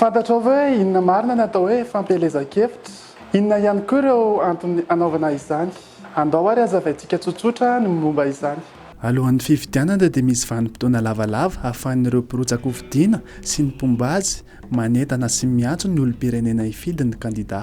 Fantatrao ve inona marina ny atao hoe fampielezan-kevitra? Inona ihany koa ireo antony hanaovana izany? Andao àry hazavaintsika tsotsotra ny momba izany. Alohan'ny fifidianana dia misy vanim-potoana lavalava ahafahan'ireo mpirotsakofidina sy ny mpomba azy manentana sy miantso ny olom-pirenena hifidy ny kandidà.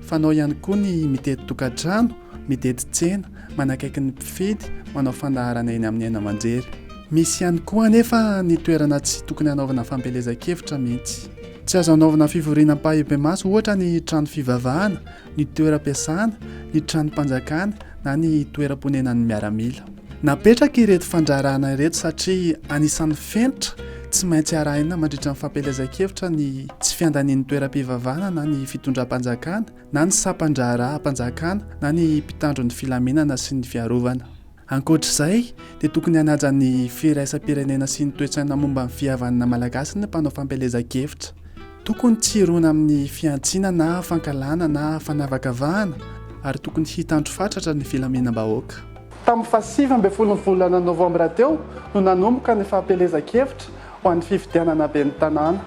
Fanao ihany koa ny mitety tokantrano, mitety tsena, manakaiky ny mpifidy, manao fandaharana eny amin'ny haino-aman-jery. Misy ihany koa anefa ny toerana tsy tokony hanaovana fampielezan-kevitra mihitsy. Tsy azo hanaovana fivoriana ampahibemaso ohatra ny trano fivavahana, ny toeram-piasana, ny tranom-panjakana na ny toeram-ponenan'ny miaramila. Napetraka ireto fandraharahana ireto satria anisan'ny fenitra tsy maintsy arahina mandritra ny fampielezan-kevitra ny tsy fiandanian'ny toeram-pivavahana na ny fitondram-panjakana na ny sampan-draharaham-panjakana na ny mpitandro ny filaminana sy ny fiarovana. Ankoatr'izay dia tokony hanaja ny firaisam-pirenena sy ny toe-tsaina momba ny fihavanana malagasy ny mpanao fampielezan-kevitra. Tokony tsy hirona amin'ny fihantsiana na fankahalana na fanavakavahana ary tokony hitandro fatratra ny filaminam-bahoaka. Tamin'ny fahasivy ambin'ny folon'ny volana novambra teo no nanomboka ny fampielezan-kevitra ho an'ny fifidianana ben'ny tanàna.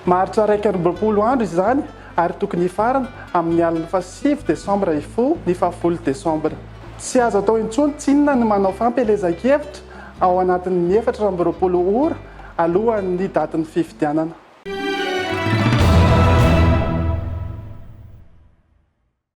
Maharitra iraika amby roapolo andro izany ary tokony hifarana amin'ny alin'ny fahasivy desambra hifoha ny fahafolo desambra. Tsy azo atao intsony tsinona ny manao fampielezan-kevitra ao anatin'ny efatra amby roapolo ora alohan'ny datin'ny fifidianana.